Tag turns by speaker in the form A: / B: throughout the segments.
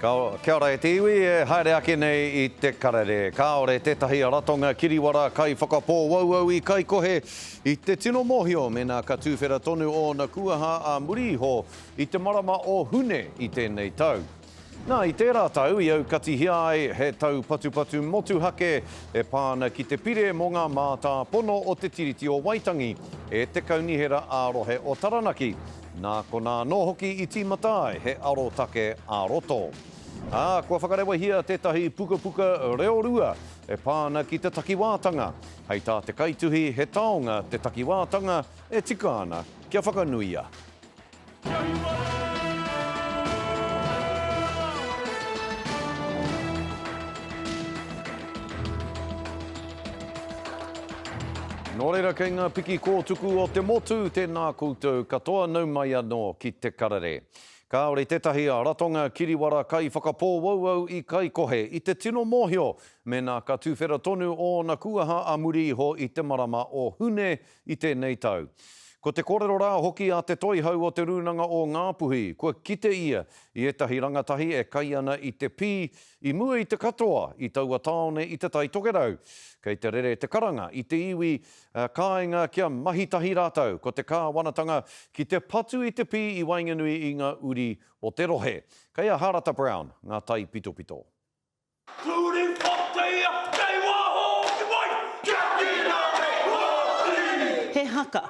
A: Kia ora e te iwi, e haere ake nei i te karere. Kāore tētahi ratonga kiriwara kai whakapōauau i kai kohe i te tino mōhio mēnā ka tūwhera tonu ōna kuaha ā muri iho i te marama o Hune i tēnei tau. Nā, i tērā tau i aukatihia ai he taupatupatu motuhake e pā ana ki te pire mō ngā mātāpono o Te Tiriti o Waitangi e te Kaunihera ā-Rohe o Taranaki, Nā konā anō hoki i tīmata ai he arotake ā-roto. Ā, kua whakarewahia tētahi pukapuka reorua e pā ana ki te takiwātanga. Hei tā te kaituhi, he taonga te takiwātanga e tika ana kia whakanuia. Nō reira kei ngā piki kōtuku o te motu tēnā koutou katoa nau mai anō ki Te Karere. Kāore tētahi ratonga kiriwara kaiwhakapōauau i kaikohe i te tino mōhio mēnā ka tuwhera tonu ōna kūaha a muri iho i te marama o Hune i tēnei tau. Ko te kōrero rā hoki a Te Toihau o Te Rūnanga o Ngāpuhi, kua kite ia i ētahi rangatahi e kai ana i te pī I mua i te katoa i taua tāone i Te Tai Tokerau, kei te rere te karanga i te iwi, ā, kāinga kia mahi tahi rātou ko te kāwanatanga ki te patu i te pī i waenganui i ngā uri o te rohe. Kei a Harata Brown ngā taipitopito. Turi Pōteia, kei waho ki wai,
B: kia tīna e Hōtiri! He haka,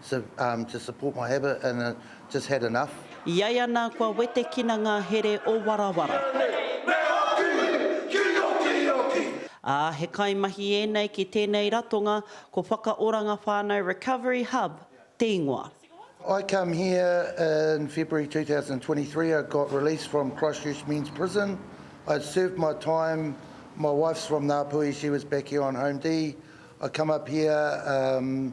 C: So um to support my habit and uh just had enough. I ai ana kua
B: wetekina ngā here o Warawara. Ā, he kaimahi ēnei ki tēnei ratonga, ko Whakaoranga Whānau Recovery Hub te ingoa. I come
C: here in February 2023, I got released from Christchurch Men's Prison, I'd served my time, my wife's from Ngāpuhi, she was back here on Home D, I come up here um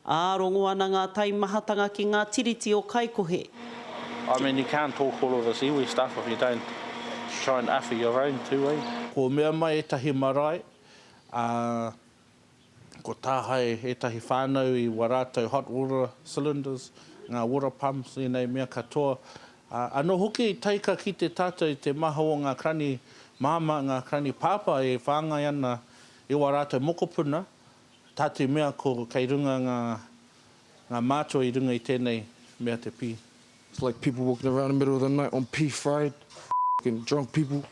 D: Ā, rongo ana ngā
B: taimahatanga ki ngā tiriti o Kaikohe,
D: ki. Ko mea mai ētahi
E: marae, ā, ko tāhae ētahi whānau i wā rātou hot water cylinders, ngā water pumps, ēnei mea katoa. Ā, anō hoki i taika ki te tātou i te maha o ngā krani māmā, ngā krani pāpā e whāngai ana i wā rātou mokopuna, Tā te mea ko kei runga ngā ngā mātua i runga i tēnei mea te pī. It's like people
F: walking around the middle of the night on pī fried f***ing drunk people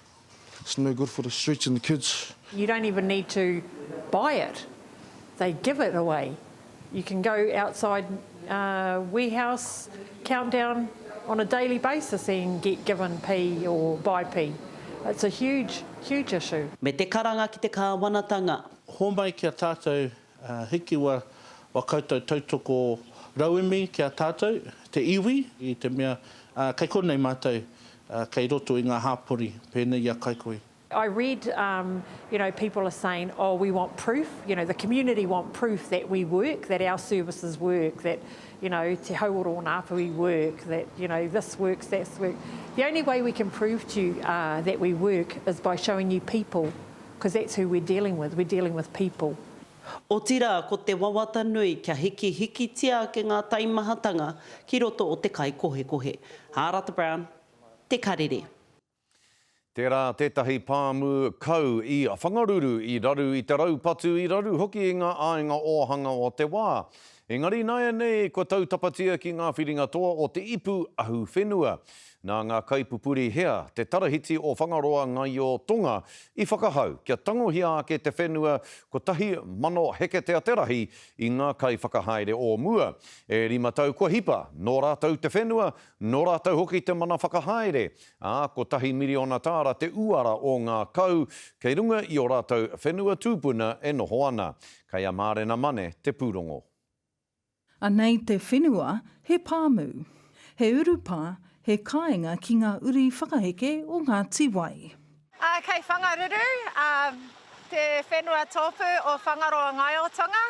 F: it's no good for the streets and the kids. You don't even need
G: to buy it, they give it away. You can go outside warehouse countdown on a daily basis and get given pī or buy pī. It's a huge, huge issue. Me te karanga ki te
B: kāwanatanga. Homai ki a
E: tātou, hikiwa o koutou tautoko rauemi ki a tātou, te iwi, i te mea, kei konei mātou, kei roto i ngā hāpori, pēnei i a Kaikoi. I read
G: um you know people are saying oh we want proof you know the community want proof that we work that our services work that you know te hau o rōna apuhi work that you know this works that's work the only way we can prove to you uh that we work is by showing you people Because that's who we're dealing with, we're dealing with people. Otirā,
B: ko te wawata nui kia hikihikitia ake ngā taimahatanga ki roto o te kaikohekohe. Hārata Brown, Te Karere. Tērā
A: tētahi pāmu kau i whangaruru i raru i te raupatu, i raru hoki i ngā āinga ōhanga o te wā. Engari nāianei kua tautapatia ki ngā whiringa toa o te ipu ahuwhenua. Nā ngā kaipupuri hea te Tarahiti o Whangaroa Ngaio Tonga i whakahau kia tangohia ake te whenua 1000 heketea te rahi i ngā kaiwhakahaere o mua? E rima tau kua hipa, nō rātou te whenua, nō rātou hoki te mana whakahaere, ā, kotahi miriona tāra te uara o ngā kau kei runga i ō rātou whenua tūpuna e noho ana. Kei a Mārena Mane te pūrongo.
H: Anei te whenua, he pāmu. He urupā, he kāinga ki ngā uri whakaheke o ngā tīwai. Kei
I: Whangaruru, te whenua tōpū o Whangaroa Ngaiotanga.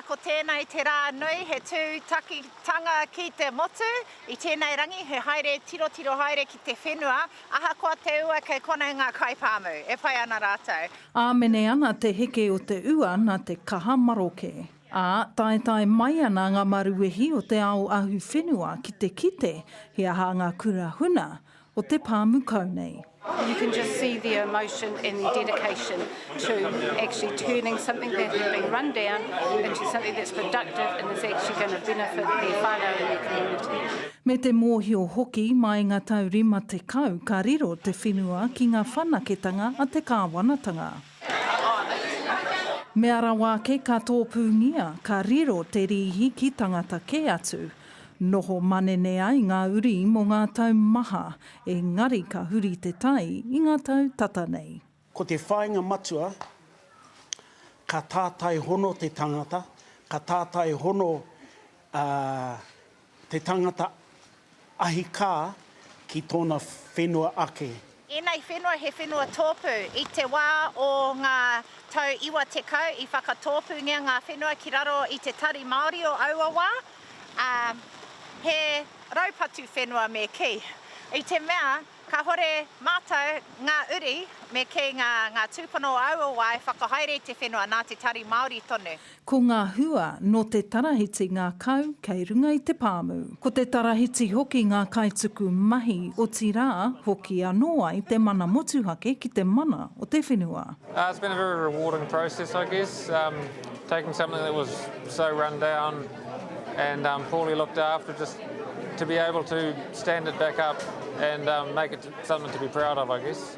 I: Ko tēnei te rā nui, he tūtakitanga ki te motu. I tēnei rangi, he haere tirotiro haere ki te whenua, ahakoa te ua kei konei ngā kaipāmu. E pai ana rātou. Āmene ana
H: te heke o te ua nā te kaha maroke. Ā, taetae mai ana ngā maruwehi o te ao ahu whenua ki te kite he aha ngā kura huna o te pāmu kau nei. You can just
J: see the emotion and the dedication to actually turning something that had been run down into something that's productive and is actually going to benefit their whānau and their community. Me te mōhio
H: hoki, mai ngā tau rima tekau ka riro te whenua ki ngā whanaketanga a te kāwanatanga. Mea rawa ake ka tōpūngia, ka riro te rīhi ki tangata kē atu. Noho manene ai ngā uri mō ngā tau maha, engari ka huri te tai i ngā tau tata nei. Ko te whāinga
K: matua, ka tātai hono te tangata, ka tātai hono Te tangata ahi kā ki tōna whenua ake. Ēnei whenua he
I: whenua tōpū. I te wā o ngā tau iwa tekau i whakatōpūngia ngā whenua ki raro i te tari Māori o aua wā, ā, he raupatu whenua me kī. I te mea kāhore mātou ngā uri me kī ngā tūpuna o aua wā e whakahaere i te whenua nā te tari Māori tonu. Ko ngā hua
H: nō te tarahiti ngā kau kei runga i te pāmu. Ko te tarahiti hoki ngā kaituku mahi, otirā, hoki anō ai te mana motuhake ki te mana o te whenua. It's been a very
L: rewarding process I guess, taking something that was so run down and poorly looked after just to be able to stand it back up and make it something to be proud of I guess.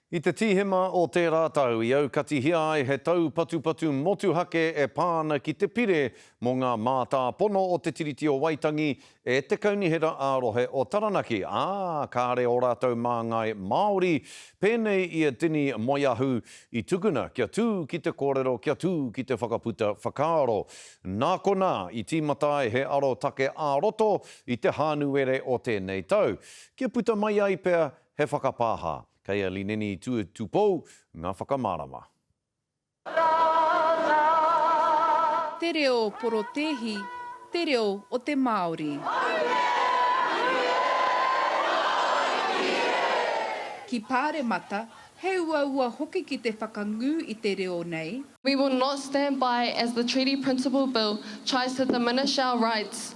A: I te Tīhema o tērā tau i aukatihia ai he taupatupatu motuhake e pā ana ki te Pire mō ngā Mātāpono o Te Tiriti o Waitangi e te Kaunihera ā-Rohe o Taranaki, ā, kāre ō rātou māngai Māori, pēnei i a Dinny Moeahu, i tukuna kia tū ki te kōrero, kia tū ki te whakaputa whakaaro. Nā konā, i tīmata ai he arotake ā-roto i te Hānuere o tēnei tau, kia puta mai ai pea He whakapāha, kei a Lineni Tuetupou ngā whakamārama.
M: Te reo porotēhi, te reo o te Māori. Ki Pāremata, he uaua hoki ki te whakangū i te reo nei. We will not stand
N: by as the Treaty Principle Bill tries to diminish our rights.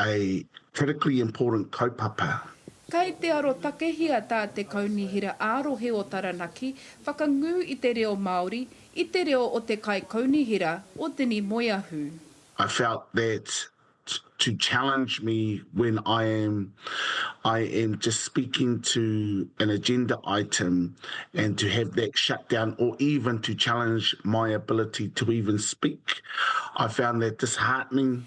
O: A critically important kaupapa. Kei te
M: arotakehia tā te Kaunihera ā-Rohe o Taranaki whakangū i te reo Māori i te reo o te Kaikaunihera, o Dini Moeahu. I felt
O: that to challenge me when I am I am just speaking to an agenda item and to have that shut down or even to challenge my ability to even speak, I found that disheartening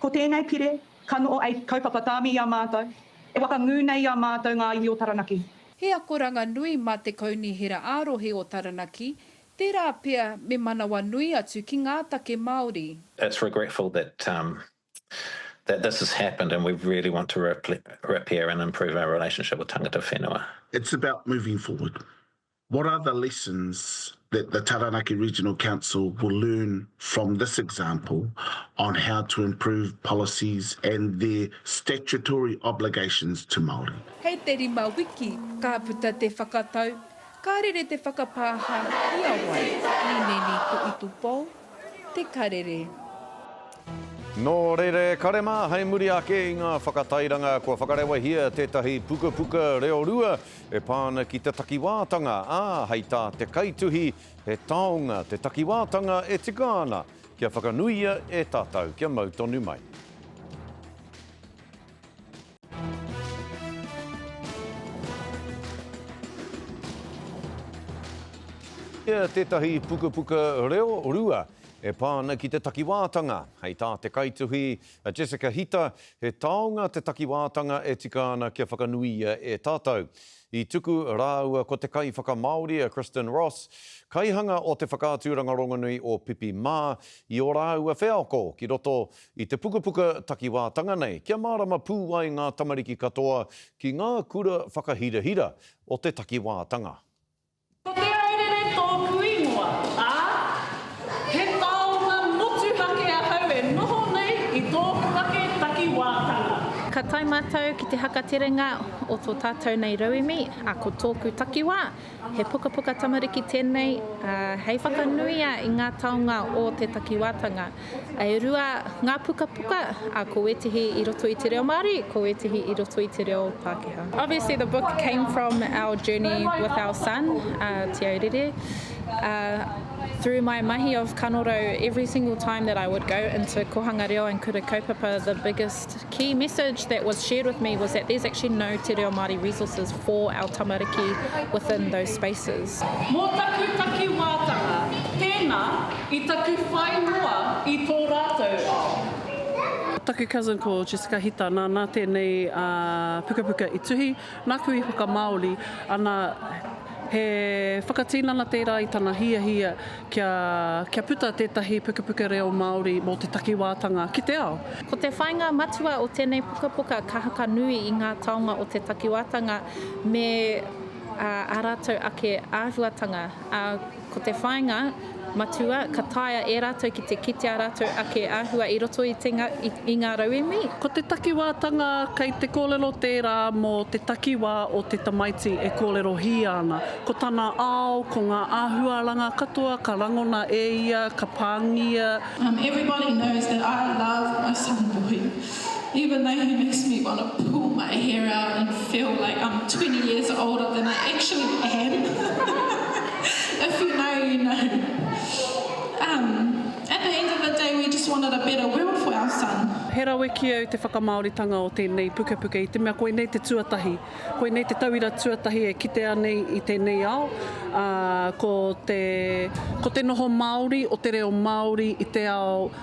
M: Ko tēnei pire,
P: ka noho ei kaupapa tāmi i a mātou, e whakangū nei i a mātou ngā iwi o Taranaki. He akoranga
M: nui mā te Kaunihera ā-Rohe o Taranaki, tērā pea me manawa nui atu ki ngā take Māori. It's regretful
Q: that that this has happened and we really want to repair and improve our relationship with tangata whenua. It's about moving
O: forward. What are the lessons that the Taranaki Regional Council will learn from this example on how to improve policies and their statutory obligations to Māori? Hei te rima
M: wiki ka puta te whakatau, ka rere te whakapāha i a wai? Nineni ko Itupou te karere.
A: Nō reira e kare mā, hei muri ake i ngā whakatairanga kua whakarewahia tētahi pukapuka reo rua E pā ana ki te takiwātanga, ā, hei tā te kaituhi, he taonga te takiwātanga e tika ana kia whakanuia e tātou kia mau tonu mai. Ia tētahi pukapuka reo rua e pā ana ki te takiwātanga, hei tā te kaituhi, A Jessica Hita, He taonga te takiwātanga e tika ana kia whakanuia e tātou. I tuku rāua ko te kaiwhakamāori a Kristin Ross, kaihanga o te whakaaturanga rongonui o Pipi Mā, i ō rāua wheako ki roto i te pukapuka takiwātanga nei kia mārama pū ai ngā tamariki katoa ki ngā kura whakahirahira o te takiwātanga. Ko Te
P: Aurere tōku ingoa, ā, he taonga motuhake ahau e noho nei i tōku ake takiwātanga. Ka tae
R: mātou ki te haka terenga o tō tātou nei rauemi, ā, ko tōku takiwā, he pukapuka tamariki tēnei, ā, hei whakanuia i ngā taonga o te takiwātanga. E rua ngā pukapuka, ā, ko wētehi i roto i te reo Māori, ko wētehi i roto i te reo Pākehā. Obviously the book came from our journey with our son, uh, Te Aurere. Uh, through my mahi of kanorau, every single time that I would go into Kohanga Reo and Kura Kaupapa, the biggest key message that was shared with me was that there's actually no Te Reo Māori resources for our tamariki within those spaces. Mō taku
P: takiwātanga, tēnā i taku whai noa i tō rātou ao. Taku cousin
S: ko Jessica Hita, nāna tēnei pukapuka i tuhi. Nāku i whakamāori, ana, he whakatinana tērā i tana hiahia kia, kia puta tētahi pukapuka reo Māori mō te takiwātanga ki te ao. Ko te whāinga matua
R: o tēnei pukapuka ka haka nui i ngā taonga o te takiwātanga me ā rātou ake āhuatanga, ā, Ko te whāinga matua, ka taea e rātou ki te kite ā rātou ake āhua i roto i te i ngā rauemi. Ko te takiwātanga,
S: kei te kōrero tērā mō te takiwā o te tamaiti e kōrerohia ana. Ko tana ao, ko ngā āhuaranga katoa ka rangona e ia, ka pāngia. Everybody
T: knows that I love my son Boy. Even though he makes me want to pull my hair out and feel like I'm twenty years older than I actually am If you know you know Umm at the end of the day we just wanted a better world for our son. He rawe ki au te
S: whakamāoritanga o tēnei pukapuka i te mea koinei te tuatahi, koinei te tauira tuatahi e kitea nei i tēnei ao, ā, ko te, ko te noho Māori o te reo Māori i te ao,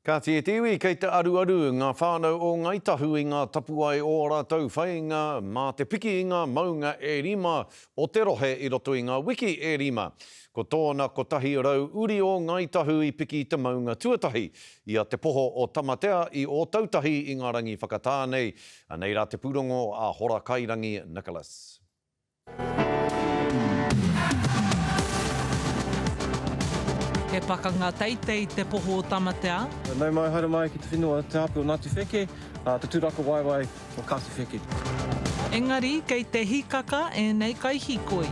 R: Kāti
A: e te iwi kei te aruaru ngā whānau o Ngāi Tahu i ngā tapuwae o ō rātou whainga mā te piki i ngā maunga e rima o te rohe i roto i ngā wiki e rima. Ko tōna 100 uri o Ngāi Tahu i piki i te maunga tuatahi, i a Te Poho o Tamatea i Ōtautahi i ngā rangi whakatā nei, anei rā te pūrongo a Horakairangi Nicholas.
C: He pakanga teitei te poho o Tamatea. Nau mai, haere mai
U: ki te whenua Te Ape o Ngāti Wheke, te tūrako waewae o Kāti Wheke. Engari
C: kei te hikaka ēnei kaihikoi.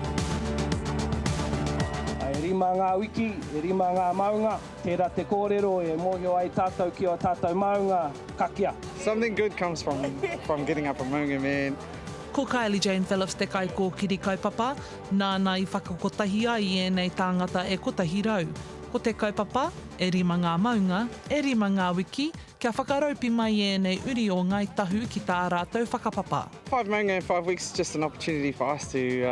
V: E rima ngā wiki, e rima ngā maunga, tērā te kōrero e mōhio ai tātou ki ō tātou māunga, ka kī a. Something good comes
W: from getting up a maunga man. Ko Kylie
C: Jane Phillips te kaikōkiri kaupapa, nāna i whakakotahi ai i ēnei tāngata e kotahi rau. Ko te kaupapa, e rima ngā maunga, e rima ngā wiki, kia whakaraupi mai ēnei uri o Ngāi Tahu ki tā rātou whakapapa. Five maunga in five
W: weeks is just an opportunity for us to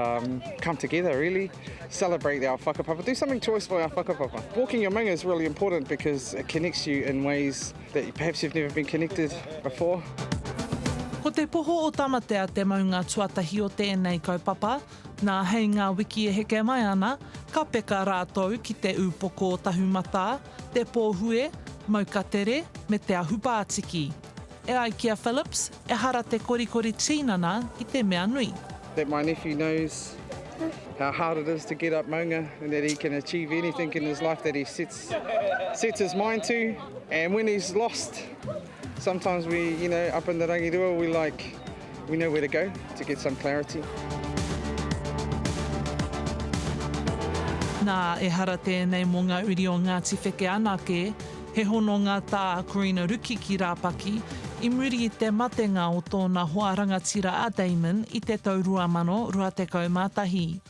W: come together really, celebrate our whakapapa, do something choice for our whakapapa. Walking your maunga is really important because it connects you in ways That perhaps you've never been connected before.
C: Ko te poho o Tamatea te maunga tuatahi o tēnei kaupapa, nā hei ngā wiki e heke mai ana, ka peka rātou ki te ūpoko o Tahumatā, te pōhue, maukatere me te ahupātiki. E ai ki a Phillips, ehara te korikori tīnana i te mea nui. That my nephew
W: knows how hard it is to get up maunga and that he can achieve anything in his life that he sets sets his mind to and when he's lost sometimes we you know up in the rangirua we like we know where to go to get some clarity.
C: Nā, ehara tēnei mō ngā uri o Ngāti Wheke anake, he hononga tā Corina Ruki ki Rāpaki, i muri i te matenga o tōna hoa rangatira a Damon i te tau 2021.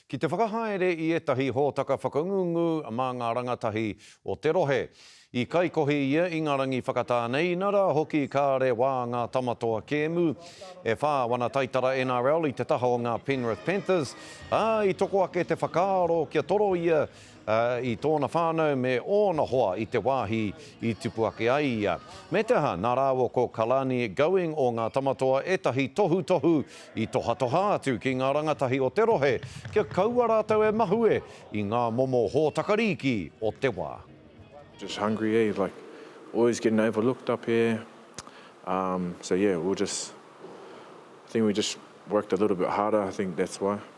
A: Ki te whakahaere i ētahi hōtaka whakangungu mā ngā rangatahi o te rohe. I kaikohi ia i ngā rangi whakatā nei, inarā hoki kāre wā ngā tama toa kēmu, e whā wana taitara NRL i te taha o ngā Penrith Panthers, ā, i toko ake te whakaaro kia toro ia i tōna whānau me ōna hoa i te wāhi i tipu ake ai ia. Me te aha, nā rāua ko Kalani Going o Ngā Tamatoa ētahi tohutohu i tohatoha atu ki ngā rangatahi o te rohe kia kaua rātou e mahue i ngā momo hōtaka rīki o te wā. Just hungry
X: eh like always getting overlooked up here um so yeah we'll just I think we just worked a little bit harder I think that's why.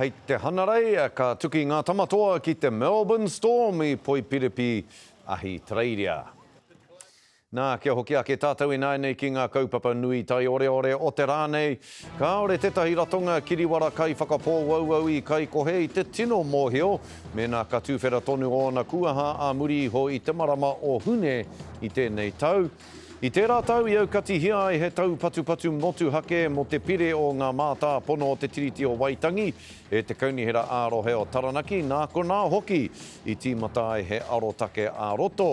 A: Hei te hanarei, ka tuki ngā tama toa ki te Melbourne Storm i Poipiripi, Ahitereiria. Nā, kia hoki ake tātou ināianei ki ngā kaupapa nui taioreore o te rā nei, kāore tētahi ratonga kiriwara kaiwhakapōauau i kaikohe i te tino mōhio mēnā ka tuwhera tonu ōna kuaha ā muri iho i te marama o Hune i tēnei tau, I tērā tau i aukatihia ai he taupatupatu motuhake mō te pire o ngā mātāpono o te Tiriti o Waitangi e te Kaunihera ā-Rohe o Taranaki, nā konā hoki i tīmata ai he arotake ā-roto,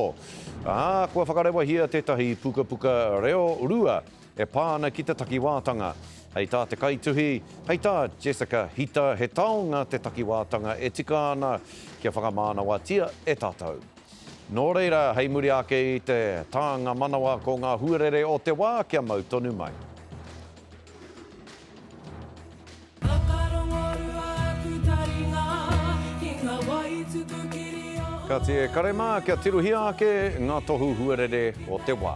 A: ā, kua whakarewahia tētahi pukapuka reo rua e pā ana ki te takiwātanga. Hei tā te kaituhi, hei tā Jessica Hita, he taonga te takiwātanga e tika ana kia whakamānawatia e tātou. Nō reira, hei muri ake i te tānga manawa ko ngā huarere o te wā kia mau tonu mai. Kāti e kare mā kia tirohia ake ngā tohu huarere o te wā.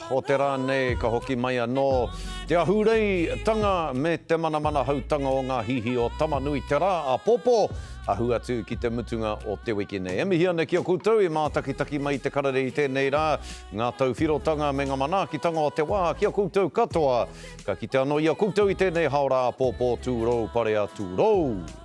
A: Hōtera nei ka hoki mai anō te ahureitanga me te manamanahautanga o ngā hihi o Tama-nui-te-rā āpōpō, ahu atu ki te mutunga o te wiki nei. E mihi ana ki a koutou i mātakitaki mai te karere i tēnei rā, ngā tauwhirotanga me ngā manaakitanga o te wā ki a koutou katoa. Ka kite anō i a koutou i tēnei haora āpōpō tūrou, parea tūrou.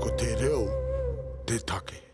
B: Ko te reo te take.